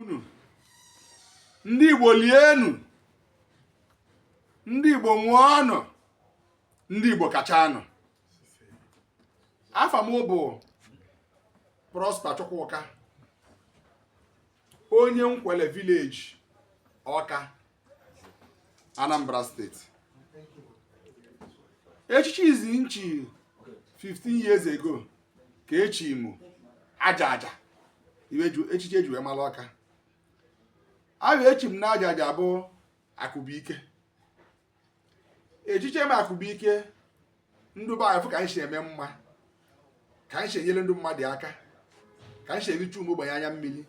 unu ndị Igbo lienụ ndị Igbo nwụọnụ ndị Igbo kachanụ afa m bụ Prosper Chukwuka onye Nkwelle village Ọka Anambra steeti echichi izizi m chi 15 years ago ka echi m Ajaghịja echichi eji wee mara Ọka afa echi m na Ajaghịja bụ akụbụike echiche m akụbụike ndụ be anyị fụ ka anyị si eme mma ka anyị si enyere ndị mmadụ aka ka anyị si eficha ụmụ ogbenye anya mmiri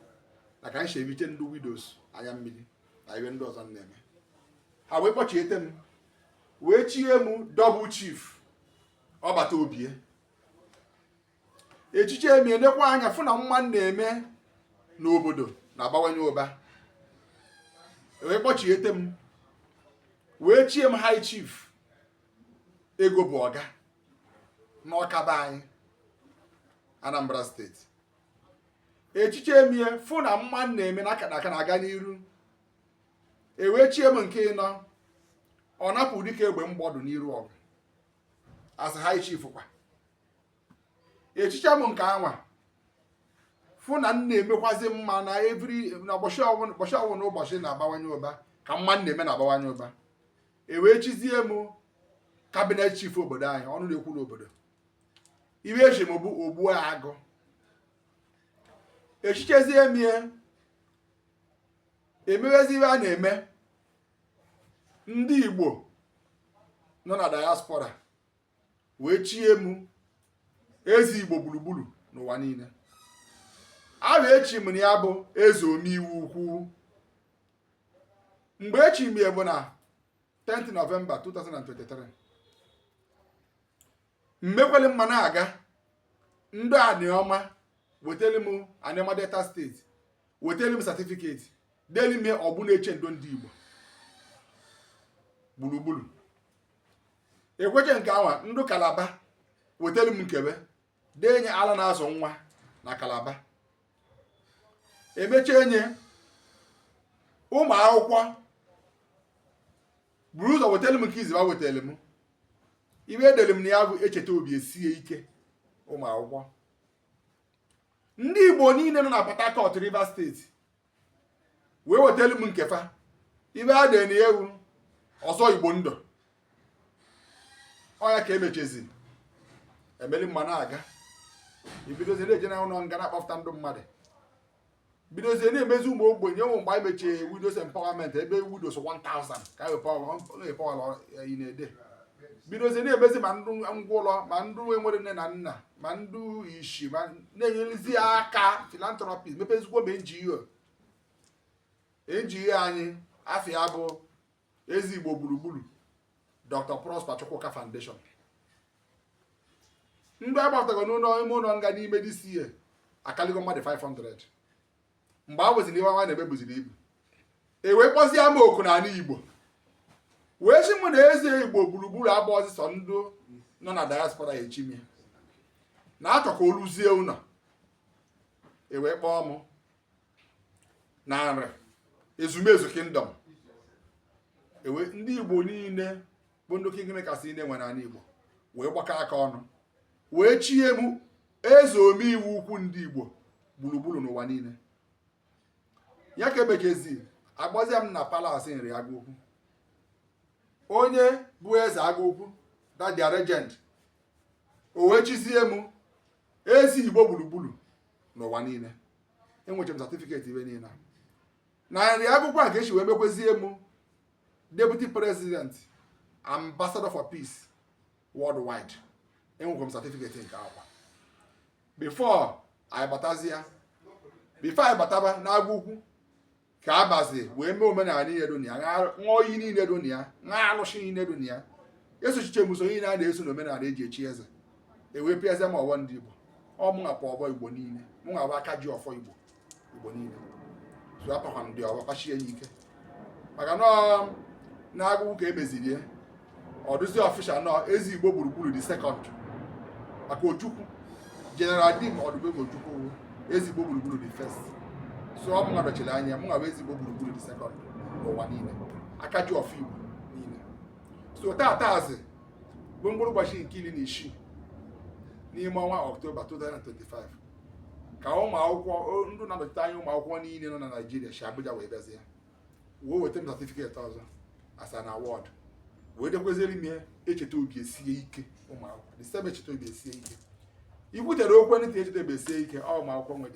na ka anyị si efiche ndị widows anya mmiri na ife ndị ọzọ na-eme ha wee kpọchiete m wee chie m double chief ọbata obie echiche m ya elekwa anya fụ na mma m na-eme n'obodo na-abawanye ụba wee kpọchiete m wee chie m high chief ego bụ ọga n'Ọka be anyị Anambra steeti echiche m ya fụ na mma na-eme ka na-aga n'iru ewee chie m nke ịnọ ọ napụ dike egbe mgbọdụ n'iru ọgụ as high chief kwa echicha m nke anwa fụ na m na-emekwazi mma na ụbọchị ọ wụna ụbọchị na-abawanye ụba ka mma m na-eme na-abawanye ụba e wee chizie m cabinet chief obodo anyị ọnụ na-ekwuru obodo ife echi m bụ ogbu agụ echichezie m ya emewezi ife a na-eme ndị Igbo nọ na diaspora wee chie m eze Igbo gburugburu n'ụwa niile afa echi m na ya bụ eze ome ife ukwu mgbe echi m ya bụ na 10 November 2023 m mekwele mma na-aga ndị Aniọma wetara m Aniọma Delta steeti wetara m certificate dere m ọgbụ na-eche ndo ndị Igbo gburugburu ekweche nke anwa ndị Calabar wetara m nke fa dee nye ala na-azụ nwa na Calabar emecha enye ụmụ akwụkwọ buru ụzọ wetara m nke izizi fa wetara m ife edere m na ya bụ echeta obi esie ike ụmụ akwụkwọ ndị Igbo niile nọ na Port Harcourt Rivers steeti wee wetara m nke fa ihe a dị na ya wụ ọzọ igbo ndụ ọ ya ka emechezi emeli mma na-aga ibidozie na-eje na ụlọ nga na-akpọpụta ndụ mmadụ bidozie na-emezi ụmụ ogbenye ụmụ mgbe anyị mechie widows empowerment ebe widows 1000 ka anyị empower in a day bidozie na-emezi ma ndụ ngwụlọ ma ndụ enwere nne na nna ma ndụ ishi ma na-enyerezi aka philanthropy mepezikwo ma NGO NGO anyị afa ya bụ eze igbo gburugburu Dr. Prosper Chukwuka Foundation ndị agbatago n'ụlọ ime ụlọ nga n'ime this year akaligo mmadụ 500 mgbe a weziri ihe ọnwa na-eme buziri ibu e wee kpọzie m oku n'anị igbo wee si mụ na eze igbo gburugburu abụọzị sọ ndụ nọ na diaspora echi m ya na a chọ ka o ruzie ụlọ e wee kpọọ mụ na nri ezumezu kingdom ebe ndị igbo niile bụ ndị kingmakers niile e nwere n'anị Igbo wee gbakọ aka ọnụ wee chie m eze omeihe ukwu ndị Igbo gburugburu n'ụwa niile ya ka emechezi agbazie m na palace nri agụ ukwu onye bụ eze agụ ukwu that their regent o wee chizie m eze Igbo gburugburu n'ụwa niile enwecha m certificate ihe niile na nri agụ ukwu a ka esi wee mekwezie m deputy president ambassador for peace worldwide enwekwa m certificate nke a kwa before anyị batazi ya before anyị bataba n'agụ ukwu ka abazi wee mee omenala niile dị na ya ṅụọ iyi niile dị na ya ṅụọ alụsị niile dị na ya esochiche m usoro niile a na-eso na omenala eji echi eze ewee pịazie m ọfọ ndị igbo ọ mụnwa pa ọfọ igbo niile mụnwa bụ aka ji ọfọ igbo igbo niile so apakwa ndị ọfọ pasie ya ike maka na n'agụ ukwu ka emeziri ya ọ dụzi official na ọ eze igbo gburugburu the second maka ojukwu general dim odumegwu ojukwu eze igbo gburugburu the first so ọ mụnwa nọchiri anya mụnwa bụ eze igbo gburugburu the second n'ụwa niile aka ji ọfọ igbo niile so taatazi bụ mkpụrụ ụbọchị nke iri na isii n'ime ọnwa ọktoba 2025 ka ụmụ akwụkwọ ndị na-anọchite anya ụmụ akwụkwọ niile nọ na Naịjirịa si Abuja wee bịazie wee weta m certificate ọzọ as an award wee dekweziere m ya echeta obi esie ike ụmụ akwụkwọ the same echeta obi esie ike ikwutere okwe ntị echeta obi esie ike ọ ụmụ akwụkwọ nwere